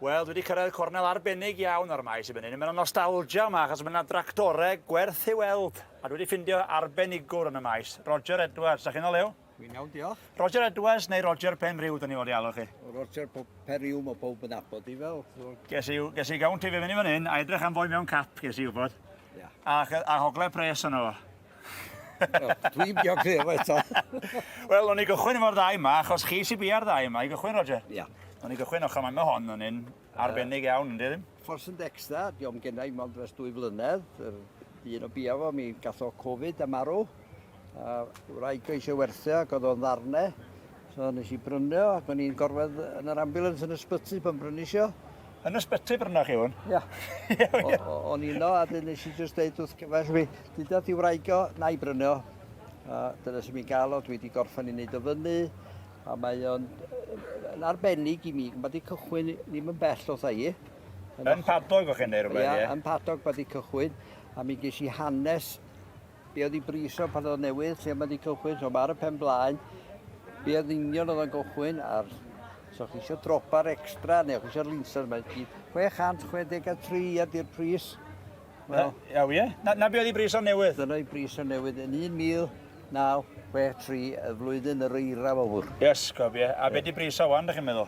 Wel, dwi wedi cyrraedd cornel arbennig iawn o'r maes i fyny. Mae'n nostalgia yma, achos mae yna dractorau gwerth i weld. A dwi wedi ffindio arbenigwr yn y maes, Roger Edwards. Da chi'n olew? Dwi'n iawn, diolch. Roger Edwards neu Roger Penrhyw, da ni fod i alw chi? Roger Penrhyw, mae pob yn abod i fel. Ges i, ges i gawn ti fe fyny fan hyn, a edrych am fwy mewn cap, ges i wybod. Yeah. A, a hogle pres yno fo. Wel, dwi'n bio glir efo eto. Wel, o'n i gychwyn efo'r ddau yma, achos chi sy'n bia'r ddau yma i gychwyn, Roger. Ia. Yeah. O'n i gychwyn ochr mae hon yn un arbennig iawn, ynddi ddim? Ffors yn Dexta, diolch gen i mond dros dwy flynedd. Un o bia fo, mi gath o Covid a marw. A wraig o eisiau werthu ac oedd o'n ddarne. So nes i brynu o ac o'n i'n gorwedd yn yr ambulance yn ysbyty pan brynis i o. Yn ysbyty brynoch chi hwn? Ia. O'n i'n o a dyn nes i just deud wrth gyfaill fi, dyda di wraig o, na i brynu o. A dyna sy'n mi'n gael o, dwi wedi gorffan i wneud o fyny. A mae o'n yn arbennig i mi, mae di cychwyn ddim yn bell o thai. Yn padog o'ch chi'n neud rhywbeth, ie? Ia, yn padog mae di cychwyn. A mi ges i hanes Be oedd ei bris o pan oedd newydd lle mae wedi cychwyn, so mae ar y pen blaen. Be oedd union oedd o'n gychwyn, a'r so chi eisiau dropa'r extra neu chi eisiau'r linser, mae'n gyd 663 ydy'r pris. Wel, Iaw, ie. Na, na be oedd ei bris o newydd? Dyna ei bris o newydd yn 1963, y flwyddyn yr eira fawr. Yes, gof, ie. A yeah. be di bris o wan, da chi'n meddwl?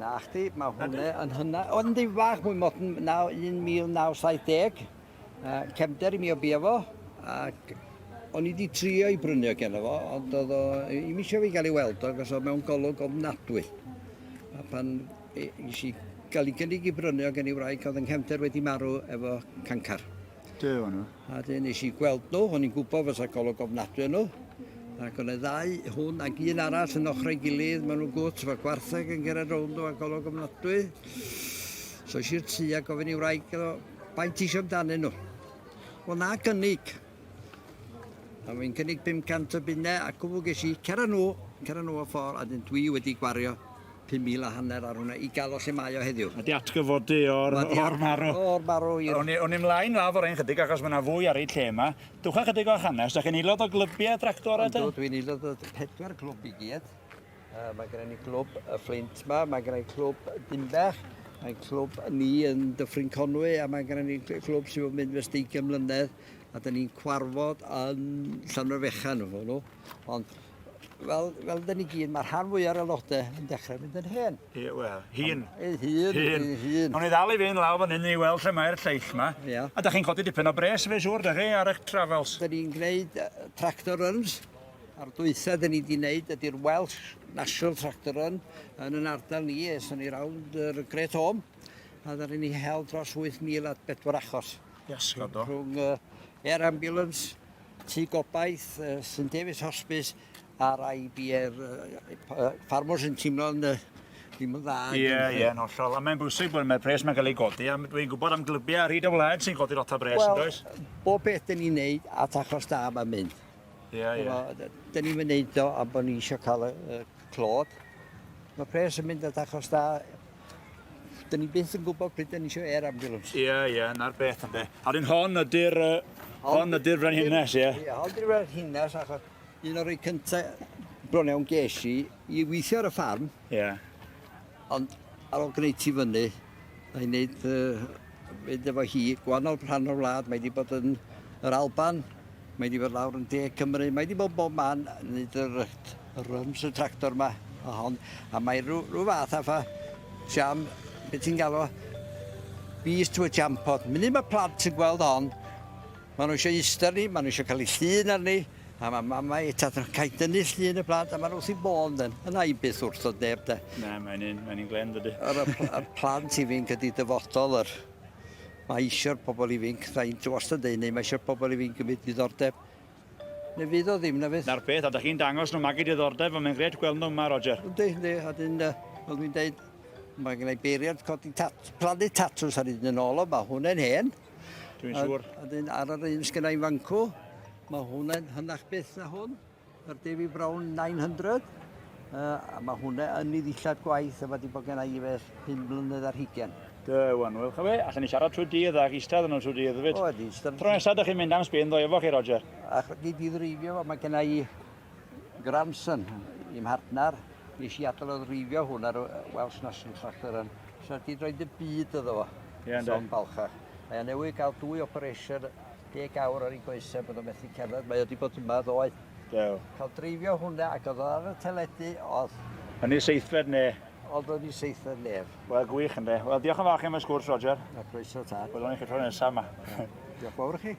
Na chdi, mae hwnna yn hynna. Oedd yn dyn fach mwy modern, 1970. Cefnder i mi o bia fo, ac o'n i wedi trio i brynu o gen fo, ond oedd o, i mi eisiau fi gael ei weld o, gos o mewn golwg ofnadwy. A pan eisiau gael ei gynnig i brynu o gen ei wraig, oedd yng nghefnder wedi marw efo cancar. Dw o'n nhw. A dyn nes i gweld nhw, o'n i'n gwybod fod y golwg ofnadwy yn nhw. Ac o'n y ddau, hwn ac un arall yn ochrau gilydd, maen nhw'n gwt, mae gwartheg yn gyrraedd rownd nhw a golwg ofnadwy. So eisiau'r tu a gofyn i wraig o, baint eisiau amdanyn nhw. Wel na gynnig. A mae'n cynnig 500 o bunnau ac o ges i, cera nhw, cera nhw o ffordd, a dyn dwi wedi gwario Pum mil a hanner ar hwnna i ga'l o lle mae o heddiw. Ma' 'di atgyfod du o'r o'r marw. O'r marw i'r... Awn ni awn ni mlaen lawr ffor 'yn chydig achos ma' 'na fwy ar eu lle 'ma. Dwcha chydig o'ch hanes, 'dach chi'n aelod o glybie tractora te? Yndw dwi'n aelod o pedwar clwb i gyd. Yy ma' gynna ni glwb y Fflint 'ma, ma' gynna ni clwb Dinbach, mae'n clwb ni yn Dyffryn Conwy a ma' gynna ni cl- clwb sydd wedi mynd fes deugain mlynedd a 'dan ni'n cwarfod yn Llanfair Fechan efo nhw. Ond Wel, fel dyn ni gyd, mae rhan fwy ar aelodau yn dechrau mynd yn hen. Ie, wel, hun. Ei hun, Hun. ei hun. O'n i ddal i fynd lawr fan hyn i weld lle mae'r lleill ma. Ie. A da chi'n codi dipyn o bres fe siŵr, da chi, ar eich travels. Dyn ni'n gwneud yy, tractor runs. A'r dwytha dyn ni wedi gwneud ydy'r Welsh National Tractor Run yn yn ardal ni, es o'n ni rawnd yr Great Home, a dda ni hel dros 8,000 at bedwar achos. Iasgob do. Rhwng uh, air ambulance, Tŷ Gobaith, St David's Hospice a'r IBR Farmers yn teimlo'n ddim yn dda. Ie, ie, yn hollol. A mae'n bwysig bod mae'r pres mae'n cael ei godi, a dwi'n gwybod am glybiau ar hyd y wlad sy'n godi lot o bres, well, does? bob beth dyn ni'n neud at achos da mae'n mynd. Ie, ie. Dyn ni'n mynd neud o am bod ni eisiau cael y, y clod. Mae pres yn mynd at achos da Dyn ni byth yn gwybod pryd dyn ni eisiau air ambulance. Ie, yeah, ie, yeah, na'r beth ynddo. A dyn hon ydy'r uh, hon ydy'r frenhines, ie? Ie, hon ydy'r frenhines, achos un o'r rei cyntaf bron iawn ges i, i weithio ar y ffarm. Ie. Yeah. Ond ar ôl gwneud ti fyny, a i wneud uh, mynd efo hi, gwahanol rhan o'r wlad, mae wedi bod yn yr Alban, Mae 'di bod lawr yn De Cymru, mae 'di bod bob man yn neud y rut, y runs y tractor 'ma a hon, a mae rhyw, rhyw fath a ffa siam, beth ti'n galw, beast to a champot. Munud mae plant yn gweld hon, maen nhw eisiau eistedd ni, maen nhw eisiau cael eu llun arni, a mae mamau a tad yn cael dynnu llun y plant, a maen nhw wrth i bôn dyn. Yna i byth wrth o neb de. Na, mae'n un, mae'n un glen dydy. Yr y plant i fi'n gyda dyfodol yr Mae eisiau'r pobl ifinc, da i'n wastad deud hynny, mae eisiau'r pobl ifinc gymryd diddordeb. Neu fydd o ddim, na fydd? Na'r peth, a da chi'n dangos nhw magu diddordeb, ond mae'n grêt gweld nhw yma, Roger. Yndi, yndi, a dyn, fel dwi'n deud, mae gen i beiriant codi tat, plannu tatws ar hyd yn ôl o, mae hwnna'n hen. Dwi'n siŵr. A dyn, ar yr un sgynnau ifancw, mae hwnna'n hynach byth na hwn. Yr David Brown 900. Uh, a mae hwnna yn ei ddillad gwaith a mae wedi bod gen i fe hyn mlynedd ar hugen. Da wan, wel chyfe, allan ni siarad trwy dydd ac eistedd yn nhw trwy dydd hefyd. O, di, ystod. Tro nesaf ydych chi'n mynd am sbyn ddo efo chi, Roger. Ac wedi di ddreifio fo, mae gen i grandson i'm mhartner. Nes i adael o ddreifio hwn ar Welsh National Tractor yn. So di droed y byd yddo fo. Ie, yeah, yn da. Balchach. Mae newydd gael dwy operation deg awr ar ei goesau bod o'n methu cerdded, mae o wedi bod yma ddoe. Do. Cael dreifio hwnna ac oedd o ar y teledu, oedd... Yn ei seithfed ne? Oedd o'n ei seithfed nef. Wel, gwych ynddo. Wel, diolch yn fawr chi am y sgwrs, Roger. A croeso ta. Wel, o'n i chi tro nesaf yma. diolch fawr chi.